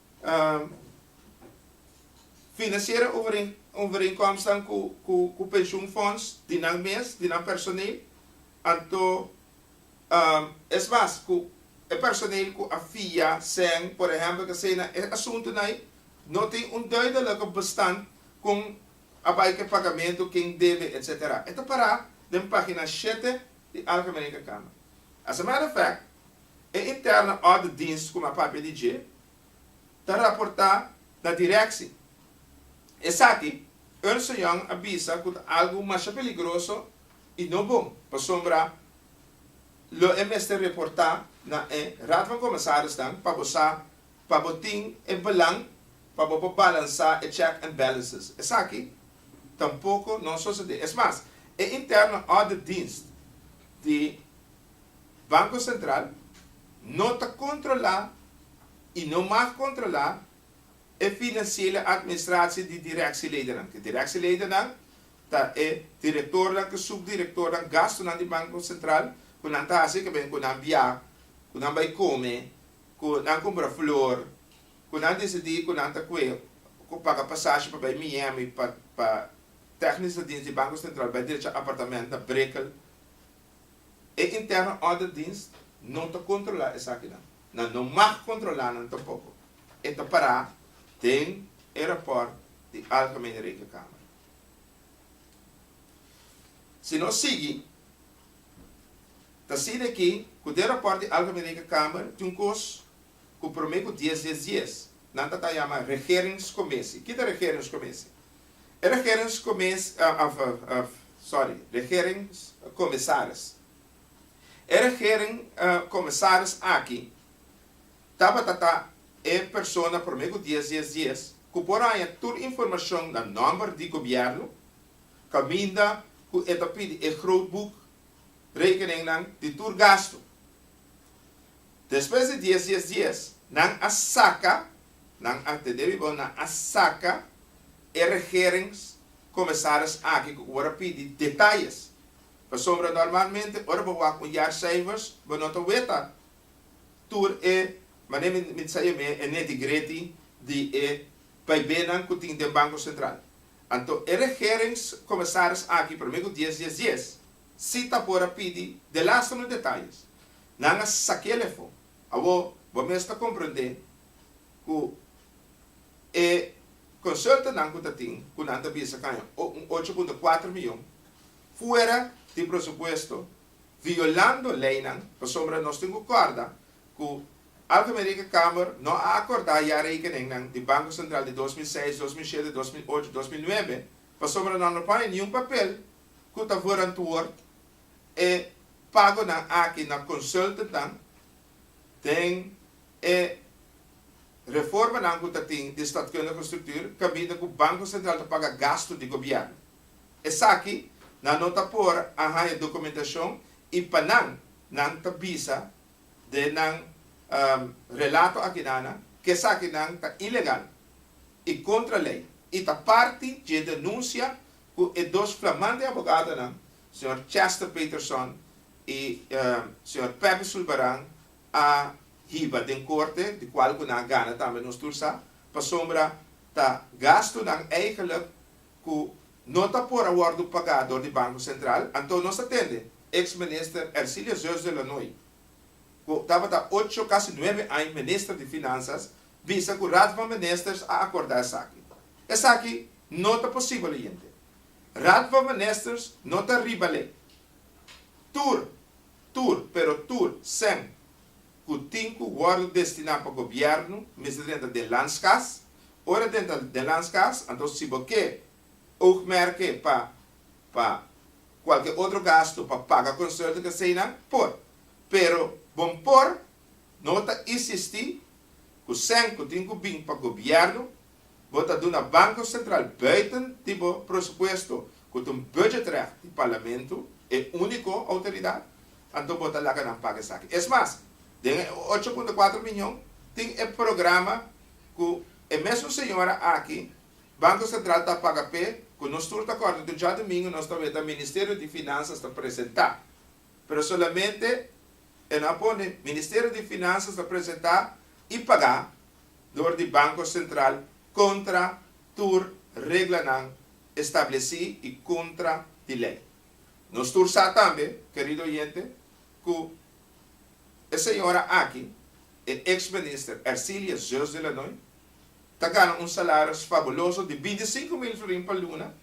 Financiera overeenkomsten ku pensioenfonds di nan mes, di nan personeel, anto es mas ku e personeel ku a fia sèn, por ehèmpel, kasina, e asuntunan ei no tin un duidelijke bestand kon a bai ku e pagamentu, ken debe, etsetera. E ta pará den página shete di Algemene Intercambio. As a matter of fact, E interne orde dienst ku mi a papia di dje ta raportá na direkshi. Esaki Ernst and Young a bisa ku ta algu masha peligroso i no bon pasobra lo e mester reportá na e Raad van Kommissarisnan pa bo sa pa bo tin e belang pa bo por balansá e check and balances. Esaki tampoko no sosodé. Es mas, e interne orde dienst di Banco Central no ta controla y no mag controla e financiele administratie di directieleidennan, cu directieleidennan ta e directornan cu subdirectornan, gastonan di Banco Central cu nan ta haci, caben cu nan bia, cu nan bay come, cu nan cumpra flor, cu nan decidi cu nan ta cue, cu paga pasashi pa bay Miami pa pa technisch ta dins di Banco Central bay derecha apartamento na Brickell, E interno ordendienst no ta controla esakinan, nan no mag controla nan tampoco. E ta para den e rapport di Algemene Rekenkamer. Si nos sigui, ta siña aki cu den rapport di Algemene Rekenkamer tin un cos cu prome cu dies dies dies nan ta ta yama Regeringscommissie. Ki ta Regeringscommissie? E regeringscomis, of, of, sorry, regeringscomisaris. E regering comisaris aki tabata ta e persona prome cu dies, dies, dies cu por haña tur informacion na nomber di Gobierno caminda cu e ta pidi e grootboek rekeningnan di tur gasto. Despues di dies dies dies, nan a saka, nan a tende bibel, nan a saka e regerings comisaris aki cu word a pidi detalles. Pasobra normalmente ora bo wak un jaarcijfers, bo no ta weta tur e, manera mi mi ta sa yam'e, e neti greti di e paibenan cu tin den Banco Central. Anto e regerings comisaris aki, prome cu dies dies dies, Si ta por a pidi de lasta no detalles, nan a sakiel efo. Awo bo mes ta komprendé ku e konsultannan ku ta tin, ku nan ta bisa kaña un ocho punto kuater miyon, fuera di presupuesto, violando leinan, pasobra nos tin ku kòrda ku Algemene Kamer no a akordá ya rekeningnan di Banko Sentral di dos mil seis, dos mil shete, dos mil ocho, dos mil nuebe, pasobra nan no pone niun papel ku ta vorantuor e pagonan aki na consultantnan den e reformanan ku ta tin di staatkundige structuur kaminda ku Banko Sentral ta paga gastu di gobièrnu. Esaki nan no ta por a haña dokumentashon i pa nan nan ta bisa den nan relato aki nana ku esaki nan ta ilegal i kontra lei i ta parti dje denunsia ku e dos flamante abogadonan, señor Chester Peterson i señor Pepe Zulbarán, a hiba den korte, di kual ku nan a gana tambe nos tur sa, pasobra ta gastunan eigelijk ku no ta por a wòrdu pagá dor di Banko Sentral. Anto nos ta tende eks minister Ercilia Zeus de Lanoy, ku tabata ocho, kasi nuebe aña minister di Finansas, bisa ku Raad van Ministers a akordá esaki. Esaki No ta posibel oyente. Raad van Ministers no ta riba lei. Tur, tur, pero tur cen cu tin cu wordo destina pa Gobierno mester drenta den Landskas. Ora drenta den Landskas, anto si bo ke oogmerke pa pa cualke otro gasto pa paga consulten ke seinan, por. Pero bo por no ta insisti cu cen cu tin cu bin pa Gobierno Bo ta duna Banko Sentral buiten di bo presupuesto, ku ta un budgetrecht di Parlamento, e úniko outoridat, anto bo ta laga nan paga esaki. Es mas, den e ocho punto kuater miñon tin e programa ku e mesun señora aki, Banko Sentral ta paga p'e ku nos tur ta kòrda ku djadumingu nos ta weta Ministerio di Finansas ta presentá Pero solamente e no a pone, Ministerio di Finansas ta presenta y paga door di Banco Central contra tur reglanan estableci y contra di ley. Nos tur sa tambe, querido oyente, cu e señora aki, e ex Minister Ercilia Zeus de Lannoy, ta gana un salaris fabuloso di binti sinku mil florin pa luna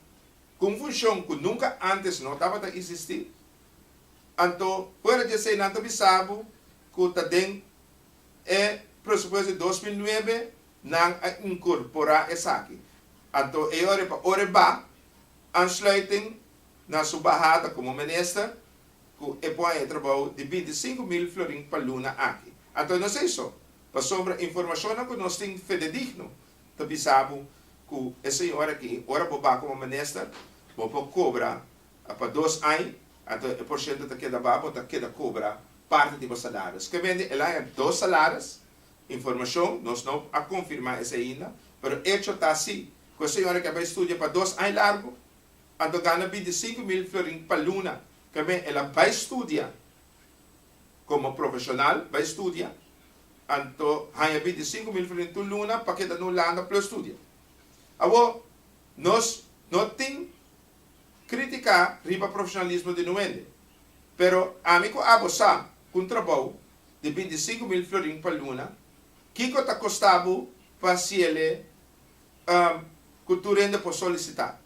ku un funshon ku nunka ántes no tabata isistí. Anto, fuera di esei nan ta bisa bo ku ta den e presupuesto di dos mil nuebe nan a inkorporá esaki. Anto e ora pa ora ba aansluiting na su bahada komo minister ku e pon e trabou di binti i sinku mil florin pa luna aki. Anto nos ei so, pasobra informashonnan ku nos tin fededigno, ta bisa bo ku e señor aki ora bo ba komo minister bo por kobra pa dos aña anto e porshento ta keda ba bo ta keda kobra parti di bo salario eskemente el a haya dos salaris informashon nos no a konfirma esei ainda pero echo ta si ku e señor aki a bai studia pa dos aña largu anto gana binti sinku mil florin pa luna tambe el a bai studia. Komo profeshonal bai studia, anto haña binti sinku mil frin tur luna pa keda nu langa plus studia. Awo, nos no tin kritiká riba profeshonalismo di nu hende, pero ami ku abo sa ku un trabou di binti sinku mil florin pa luna, kiko ta kostá bo pa hasiele ku tur hende por solisitá?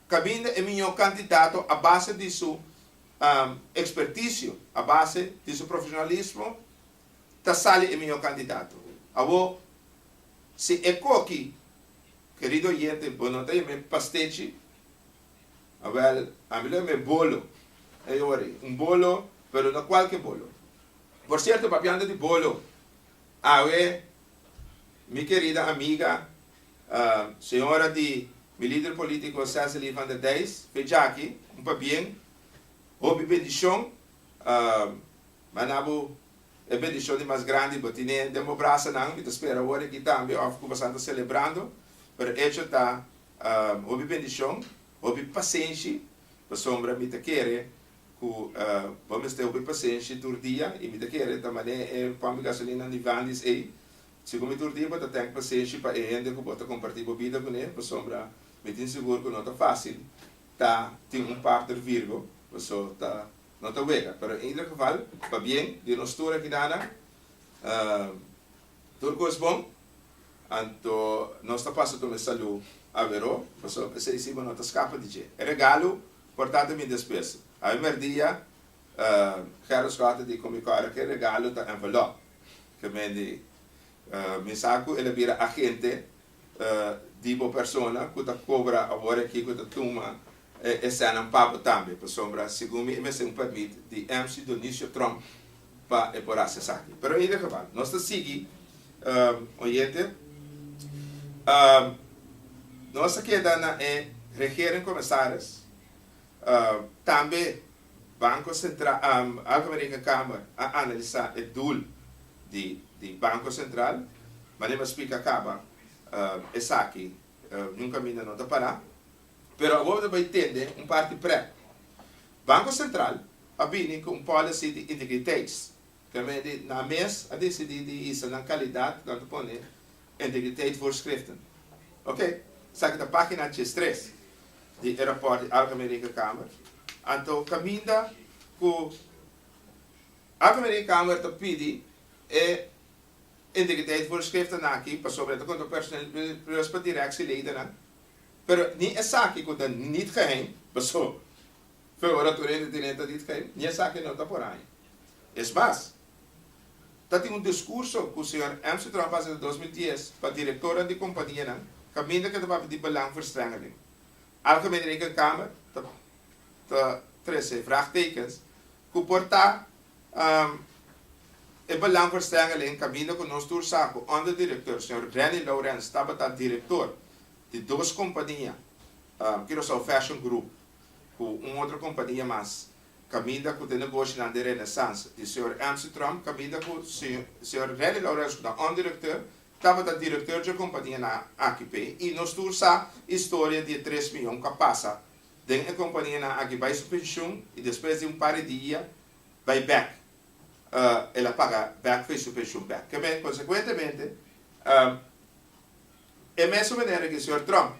Kaminda e miñó kandidato a base di su experticio, a base di su profesionalismo ta sali e miho candidato. Awor, si e coki, querido oyente, bo no ta yam'e pastechi, awel, ami lo yam'e bolo, e awor ei, un bolo, pero no cualke bolo. Por cierto, papiando di bolo, awe, mi querida amiga. Señora di mi lider politico Cecily van der Dais, pechaki, un pabien, hopi bendicion, ma na bo e bendicion di mas grandi bo tine den bo brasanan, mi ta spera awor aki tambe of cu boso ta celebrando, pero echo ta hopi bendicion, hopi pasenshi, pasobra mi ta kere cu bo mester hopi pasenshi tur dia y mi ta kere ta mane e pompi gasolina Nivandis ey, Segun mi tur dia bo ta tèn pasenshi pa e hende ku bo ta kompartí bo bida kuné, pasobra mi tin sigur ku no ta fásil ta tin un partner Virgo, paso ta no ta wega. Pero en ieder geval, pa bien di nos tur akidanan, tur kos bon, anto nos ta pasa tuma e salú aweró, paso esei si bo no ta skapa di dje. E regalu por tata mi despues. Awor merdia Gerda Scott a di ku mi ku a ke regalu ta envelope. Gemendi mi sa ku el a bira agente di bo persona ku ta kobra awor aki ku ta tuma e sènnan pa bo tambe. Pasobra segun mi e mester un pèrmit di MC Donisio Trump pa e por hasi esaki. Pero en e gebal nos ta sigui oyente. Nos ta keda na e regering komesaris tambe. Banco Central, Alpha American Kamer a analisá e doel di di Banco Central, manera bo a spliká kaba, esaki niun kaminda no ta pará. Pero awor bo ta bai tende un parti prèk. Banco Central a bini ku un policy di integriteits. Kami di nan mes a disidí di hisa nan kalidat ku nan ta pone integriteitvoorschriften. Oke, esaki ta página diestres di e rapòrt di Algemene Rekenkamer. Anto kaminda ku Algemene Rekenkamer ta pidi e integriteitvoorschriften aki pasobra e ta konta personeel di Respa Dirèksie Ledennan, pero ni esaki ku ta nit geheim, paso Fe ora tur hende te neta dit, Kei, ni esaki no ta por haña. Es mas, ta tin un discurso cu señor Amsterdam a face den dos mil dies pa directornan di companianan caminda ke ta papia di belangverstrengeling. Algemene Rekenkamer ta ta trece vraagtekens cu por ta e belangverstrengeling caminda cu nos tur sa cu onderdirecteur señor Renny Laurens tabata director di dos compania Curaçao Fashion Group ku un otro kompania mas, kaminda ku ta negoshinan den Renaissance di señor Ernst Tromp, kaminda ku señor Renny Laurens ku ta òndirektor, tabata direktor dje kompanianan aki p'e. I nos tur sa historia di e tres mion ku a pasa den e kompanianan aki bai su penshun i despues di un par di dia bai bèk, el a paga bèk for su penshun bèk. Ke men, konsekuentemente, e mesun manera ku e señor Tromp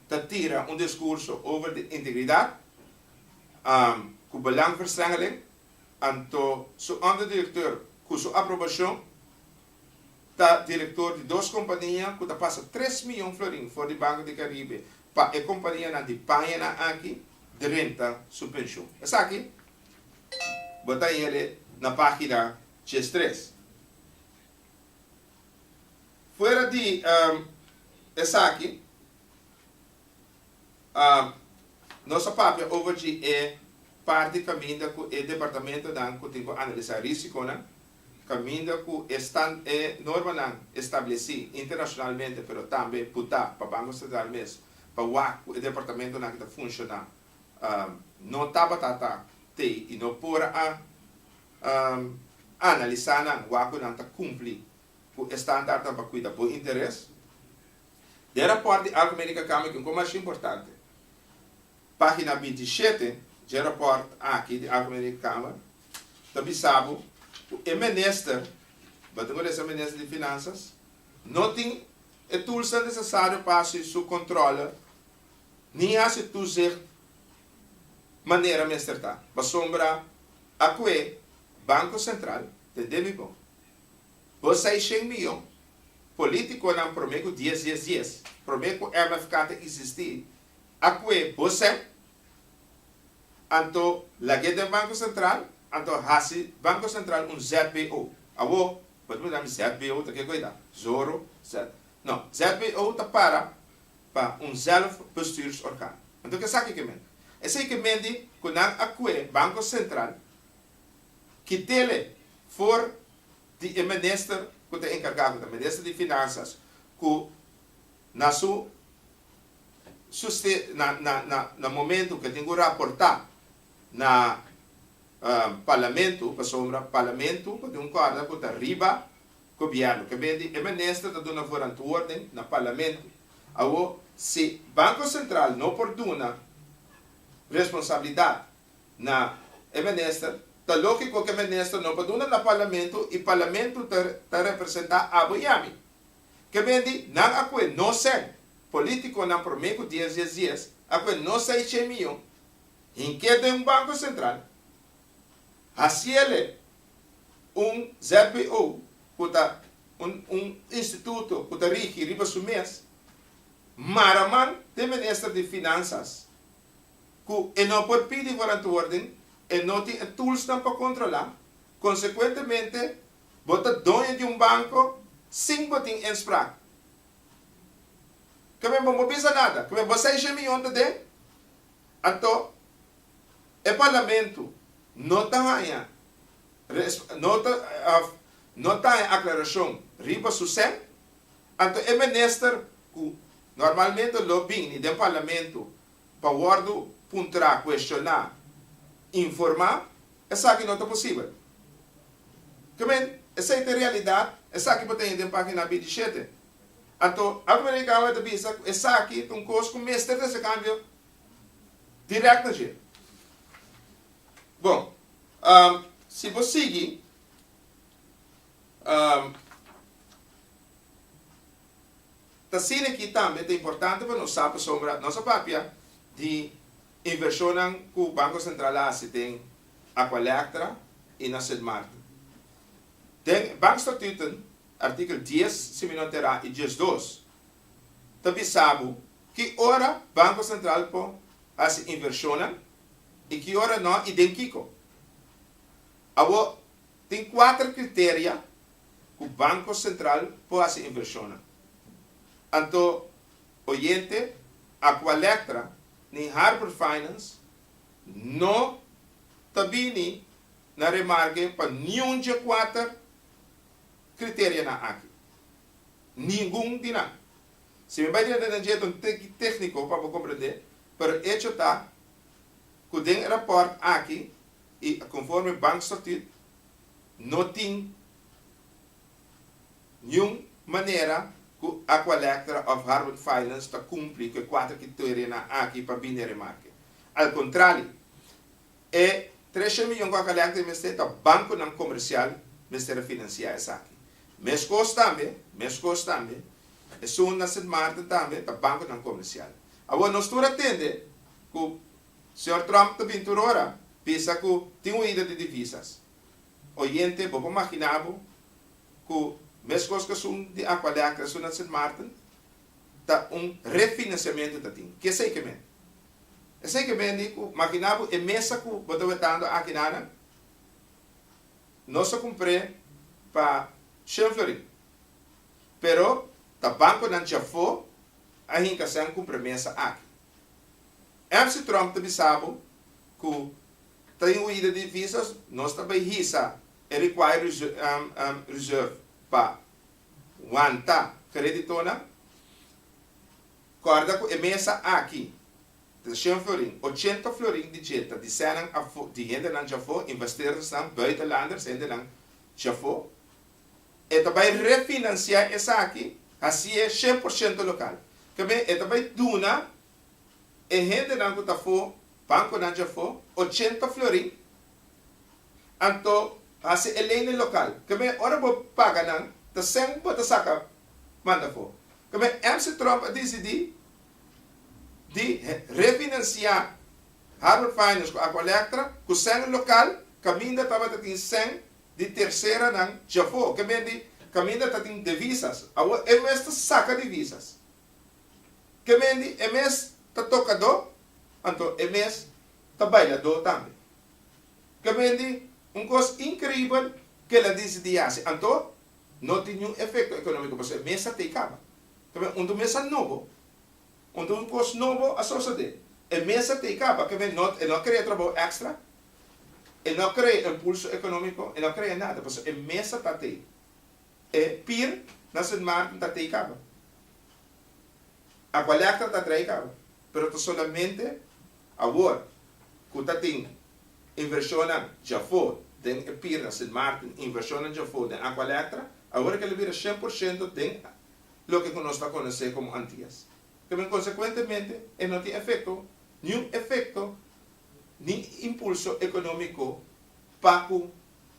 ta tira un discurso over di integridad cu belangverstrengeling, anto su onderdirecteur cu su aprobacion ta director di dos compania cu ta pasa tres miyon florin for di Banco di Caribe pa e companianan di pañanan aki drenta su pension. Esaki bo ta yele na pagina diestres. Fuera di esaki, nos a papia over dje e parti caminda cu e departamentonan cu tin cu analisa risiconan, caminda cu e normanan estableci internacionalmente pero tambe por ta pa Banco Central mes pa wak cu e departamentonan ki ta funciona no tabata ta tey y no por a Analisá nan wak ku nan ta kumpli ku e standartnan pa kuida bo interes. Den rapòrt di Algemeen Rekenkamer Kico Mas Importante? página binti i shete, dje rapòrt aki di Algemeen Rekenkamer ta bisa bo ku e minister, batin ku desa minister di Finansas, no tin e tulsnan nesesario pa hasi su kòntrole ni hasi tuzicht. manera mester ta, pasobra akue Banko Sentral den demi bon bo seishen miyon politikonan prome ku dies dies dies prome ku MFK ta isistí akue bo sèt anto lag'é den Banko Sentral anto hasi Banko Sentral un ZBO awo bo ta mira mi ZBO ta ke koe ta zoro zet no ZBO ta para pa un zelfbestuursorgaan. Anto ke esaki ke mende? Esei ke mende ku nan a kue Banko Sentral kitele for di e minister ku ta enkargá, ku ta minister di Finansas, ku na su na momentu ke tin ku raportá na Parlamentu, pasobra Parlamentu por tin un kòrda ku ta riba. Gobièrnu ke be di e minister ta duna vorantuorden na parlamentu. Awo, si Banko Sentral no por duna responsabilidat na e minister, ta lógiko ke minister no por duna na parlamentu i parlamentu ta ta representá abo i ami. Ke ben di, nan akue no sèn polítikonan promé ku dies dies dies, akue no seis shei miyon, hin ke den un Banko Sentral, Haciele, un ZBO ku ta un un instituto ku ta rigi riba su mes, mara man den minister di Finansas ku e no por pidi warantuorden, e no tin e toolsnan pa kontrolá, konsekuentemente bo ta doño di un banko sin bo tin inspraak. Ke men bo no bisa nada, ke men bo seis shemillon ta den, anto E parlamento no ta haña no ta haña aclaracion riba su sèn, anto e minister cu normalmente lo bini den parlamento pa wordo puntra, cuestioná, informá, esaki no ta posibel. Ke men, esei ta e realidad, esaki bo ta hini den pagina bindi shete. Anto, Algemene Recabo a ta bisa cu esaki ta un cos cu mester ta hasi cambio direct na dje. Bon, si bo sigui ta sina aki tambe ta importante pa nos sa pasobra nos a papia di invershonnan ku Banko Sentral a hasi den Aqualectra i na Sint-Maarten. Den Bankstatuten, artikel dies, si mi no enterá, i diesdos ta bisa bo Ki ora Banko Sentral por hasi invershonnan i ki ora nò i den kiko? Awor, tin kuater kriteria ku Banko Sentral por hasi invershonnan. Anto oyente, Aqualectra ni Harbor Finance no ta bini na remarke pa niun dje kuater kriterianan aki. Ningun di nan. Si mi bai den e detallenan un tiki tékniko pa bo komprendé, pero e echo ta ku den e rapòrt aki i konforme Bank Statuut no tin niun manera ku Aqualectra òf Harvard Finance ta kumpli ku e kuater kriteorenan aki pa bini remarke. Al kontrario, E trescion miyon ku a kaliá ku e mester ta bankunan komersial mester a finansiá esaki. Meskos tambe, meskos tambe, esun na Sint Maarten tambe ta bankunan komersial. Awor nos tur a tende ku señor Trump ta bin tur ora bisa ku tin huida di divisas. Oyente bo por maginá bo ku meskos ku esun di Aqualeaca, esun na Sint Maarten ta un refinansiamentu ta tin. Kiesei ke mende? Esei ke men di ku makiná bo e mesa ku bo ta wetando aki nana, nos a kumpr'é pa shen florin. Pero ta bankonan djafó a hinka sèn kumpra e mesa aki. MC Trump ta bisa bo ku ta den huida di visas nos ta bai hisa e required reserve pa wanta kreditonan. Kòrda ku e mesa aki, Trechent florin, ochenta florin di dje ta di sènan afó, di hendenan djafó, investeerdersnan, buitenlanders, hendenan djafó. E ta bai refinansiá esaki, hasié shen por shento lokal. Kabé e ta bai duna e hendenan ku ta afó, bankonan djafó, ochenta florin. Anto hasi e leynan lokal keme ora bo paga nan ta sèn bo ta saka manda afó. Keme MC Trump a disidí di refinansiá Harvard Finance ku Aqua Lectra ku sèn lokal kaminda tabata tin sèn di terseranan djafó keme di kaminda ta tin devisas. Awo e mes ta saka divisas keme di e mes ta tokadó anto e mes ta bailadó tambe. Kamente, un kos inkreibel ke la disidí hasi anto no tin niun efekto ekonómiko pasobra e mes a tei kaba. Kamente, unda un mes a nobo, unda un kos nobo a sosodé, e mes a tei kaba, kamente no e no a krea trabou èkstra, e no a krea impulso ekonómiko, e no a krea nada, pasobra e mes a ta tei. E pir na Sint Maarten ta tei kaba. Agualèkter ta drei kaba. pero ta solamente awor ku ta tin invershonnan djafó den e pir na Sint Maarten, invershonnan djafó den Aqua Lectra, awor kel a bira shen por shento den loke ku nos ta konosé komo Antias. Ta bin konsekuentemente e no tin efekto, niun efekto ni impulso ekonómiko pa ku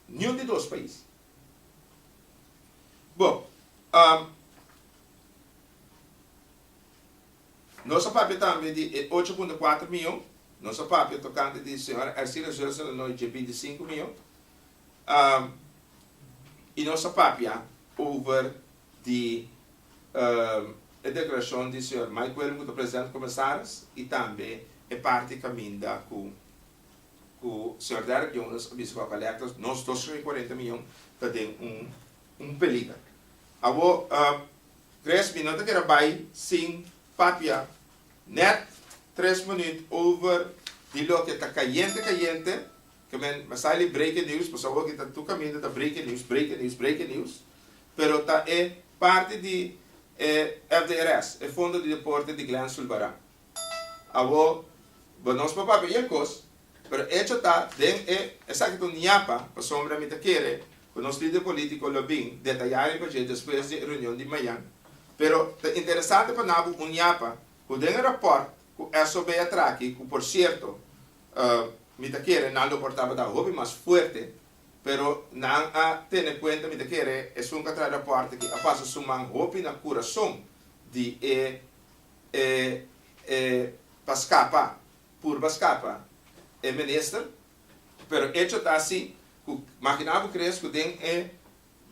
niun di dos pais. Bo. Nos a papia tambe di e ocho punto kuater mion, nos a papia tokante di señora Ercira Zuelson Lanoy dje binti sinku mion, i nos a papia over di e deklarashon di señor Mike Wellum ku ta president komesaris i tambe e parti kaminda ku ku señor Derrick Jonas a bisa ku a kolekta nos dos shon i kuarenta mion ta den un un peliger. Awor Tres mi no ta keda bai sin papia net tres minuut over di loke ta kayente kayente ke men mestay li breaking news pasobra awor aki ta tur kaminda ta breaking news breaking news breaking news pero ta e parti di e FDRS e fondo di deporte di Glen Sulbaran. Awor, bo nos por papia e kos, pero echo ta den e esaki ta un ñapa pasobra mi ta kere ku nos lider politiko lo bin detayá riba dje despues di e reunion di mañan, pero ta interesante pa nan bo un ñapa ku den e rapòrt ku SOB a traha aki, ku por sierto mi ta kere nan lo por tabata hopi mas fuerte, pero nan a tene kuenta mi ta kere esun ku a traha e rapòrt aki a pasa su man hopi na kurason di e. E e pa scapa, purba scapa e minister, pero echo ta asi cu magina bo crea cu den e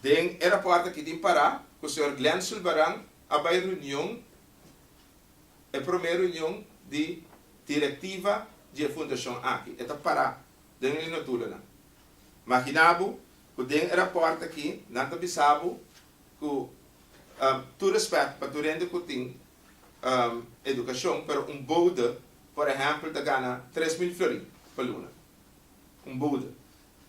den e raport aki tin para cu señor Glenn Zulbarán a bay reunion, e prome reunion di directiva di e fundacion aki. E ta para den e notulonan. Magina bo cu den e raport aki nan ta bisa bo Ku tur respèt pa tur hende ku tin edukashon, pero un boude, por ehèmpel, ta gana tres mil flori pa luna. Un boude.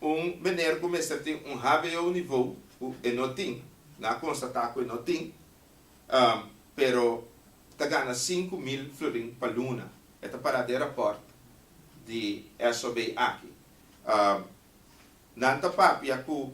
Un meneer ku mester tin un hbo nivou, ku e no tin, nan a konstatá ku e no tin, pero ta gana sinku mil florin pa luna. E ta pará den rapòrt di SOB aki. Nan ta papia ku.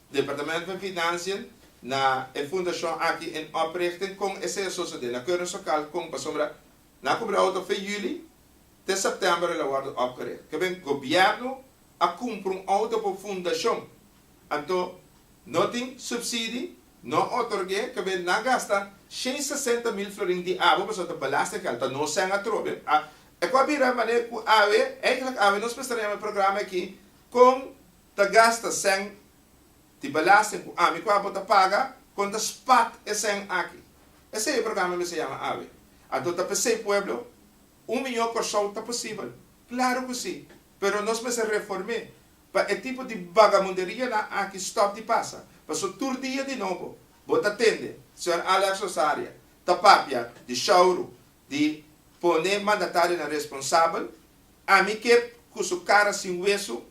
Departamento den Financiën na e Fundacion aki en oprichting con esey a sosode na Curren Socal con pasobra na Cubrao ta fe Juli te September el a wordo opgericht. Keben Gobierno a cumpra un auto por Fundacion anto no tin subsidi, no a otorge, keben na gasta shen sesenta mil florin di abo pasobra ta belasting geld ta no seng atrobe. Ecu a bira manera cu awe, eigenlik awe nos mester a yama e programa aki con ta gasta sèn di belasting ku ami ku abo ta paga kon ta spat e sèn aki. Esei e programa mester yama awe. Anto ta p'esei pueblo? Un mió Kòrsou ta posibel? Klaru ku si, pero nos mester reform'é pa e tipo di bagabunderianan aki stòp di pasa. Pasó tur dia di nobo bo ta tende señor Alex Rosaria ta papia di showru di pone mandatarionan responsabel, ami kep ku su kara sin wesu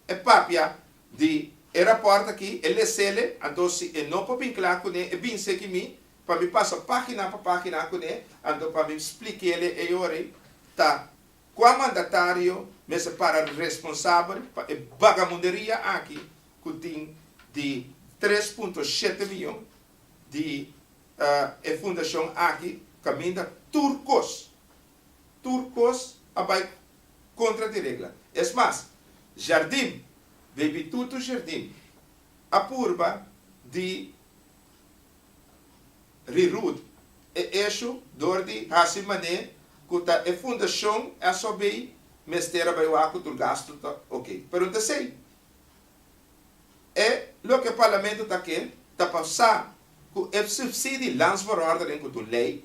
e papia di e raport aki, e lesele, anto si e no por bin cla cune, e bin seki mi, pa mi pasa pagina pa pagina cune, anto pa mi splikele e yori ta cua mandatario mester para responsabel pa e bagamunderia aki cu tin di tres punto shete miyon di e fundacion aki caminda tur cos. tur cos a bay contra di regla. Es mas, jardin, baby tutu jardin, a purba di reroot e eshu door di haci mané cu ta e fundacion a so bay mester a bay wak cu tur gasto ta ok. Pero ta esey. E loke e Parlamento ta ke ta pa sa cu e subsidi lands voorordening cu tur ley.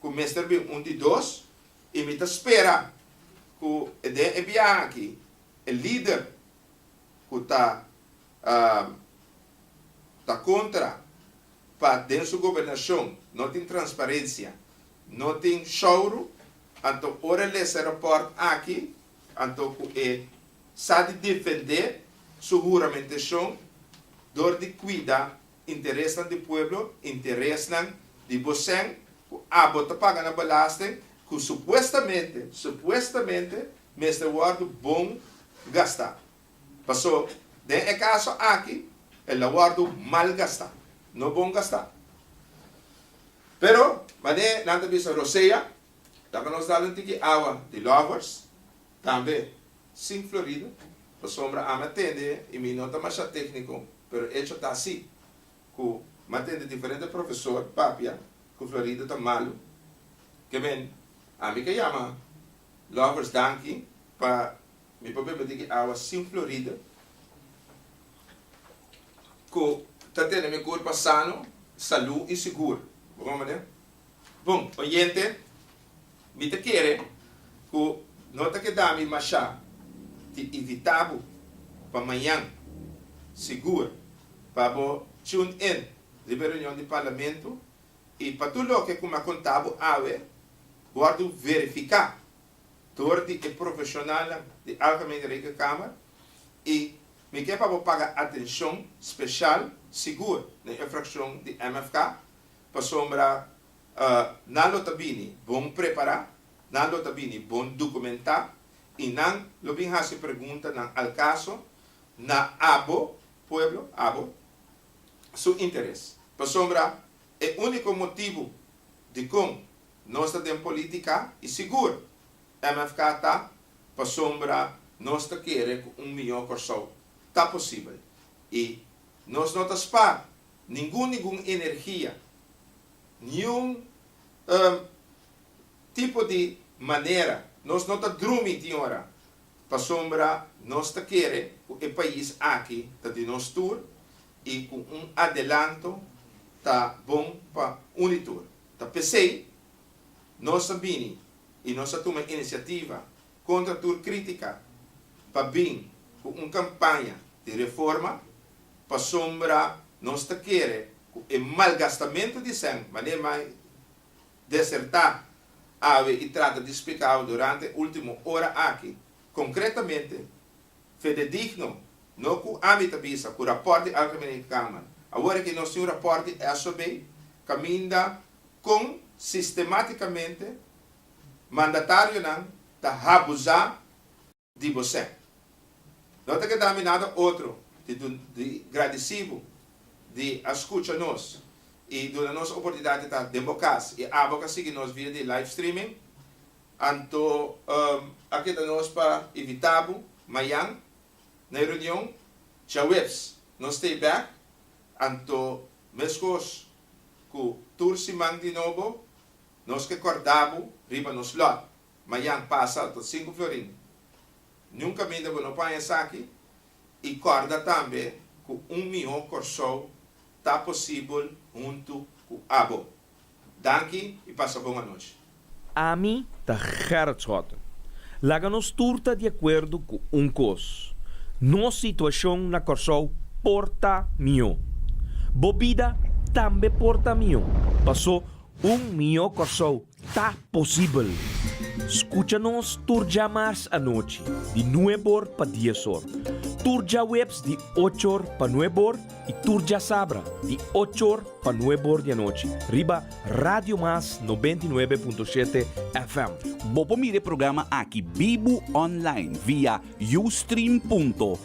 ku mester bin un di dos i mi ta spera ku den e biaha aki e lider ku ta ta kontra pa den su gobernashon no tin transparensia, no tin shouru, anto ora e lesa e rapòrt aki anto ku e sa di defendé su huramentashon dor di kuida Interesnan di pueblo, interesnan di bosen ku abo ta paga nan belasting ku supuestamente, supuestamente mester wòrdu bon gastá. Pasó den e kaso aki el a wòrdu mal gastá, no bon gastá. Pero manera nan ta bisa Rosea, ta ku nos dal un tiki awa di lovers. Tambe, Sing Florida, pasobra ami a tende i mi no ta masha tékniko, pero echo ta así, ku mi a tende diferente profesor papia ku Florida ta malu. Kebén, ami ke yama Lovers danki pa mi por bebe di ki awa Sing Florida ku ta tene mi kurpa sano, salú i sigur. Bo konprende? Bon, oyente, mi ta kere ku no ta kedami mashá di invitá bo pa mañan, sigur, pa bo tune in riba e reunion di Parlamento i pa tur loke ku mi a kontá bo awe wòrdu verifiká dor di e profeshonalnan di Algemene Rekenkamer i mi ke pa bo paga atenshon speshal, sigur, na e frakshon di MFK Pasobra nan lo ta bini bon prepará, nan lo ta bini bon dokumentá, i nan lo bin hasi preguntanan al kaso na abo, pueblo, abo, su interes. Pasobra e úniko motibu dikon nos ta den polítika, i sigur MFK ta, pasobra nos ta kere ku un mihó Kòrsou ta posibel, i nos no ta spar Ningun ningun energia, niun um tipo di manera nos no ta drumi tin ora pasobra nos ta kere cu e pais aki ta di nos tur y cu un adelanto ta bon pa un di tur. Ta pesey nos a bini y nos a tuma iniciativa kontra tur krítika pa bin ku un kampaña di reforma pasobra nos ta kere ku e malgastamentu di sèn manera mai desertá awe i trata di splika awe durante e último ora aki konkretamente fededigno no ku ami ta bisa ku rapòrt di Algemene Kamer awor aki nos tin un rapòrt di SOB kaminda kon sistemátikamente mandatarionan ta habusá di bosé. No ta keda mi nada otro di gradisí bo di a skucha nos i duna nos oportunidat di ta den bo kas i abo ka sigui nos via di live streaming. Anto a keda nos pa invitá bo mayan na e reunion. Djaweps nos ta e bèk, anto meskos ku tur siman di nobo. Nos ke korda bo riba nos lot. Mayan pasa al tot sinku florin. Nunka minda bo no paña esaki i korda tambe ku un mihó Kòrsou ta posibel huntu ku abo. Danki i pasa bon anochi. Ami ta Gerrit Schotten. Laga nos tur ta di akuerdo ku un kos, nos situashon na Kòrsou por ta mihó. Bo bida tambe por ta mihó. Pasó Un mihó Kòrsou ta posibel! Skucha nos tur djamars anochi di nueb or pa dies or, tur djaweps di och or pa nueb or i tur djasabra di och or pa nueb or di anochi riba Radio Mas nobenta i nuebe punto shete FM. Bo por mira e programa aki bibu online via Ustream punto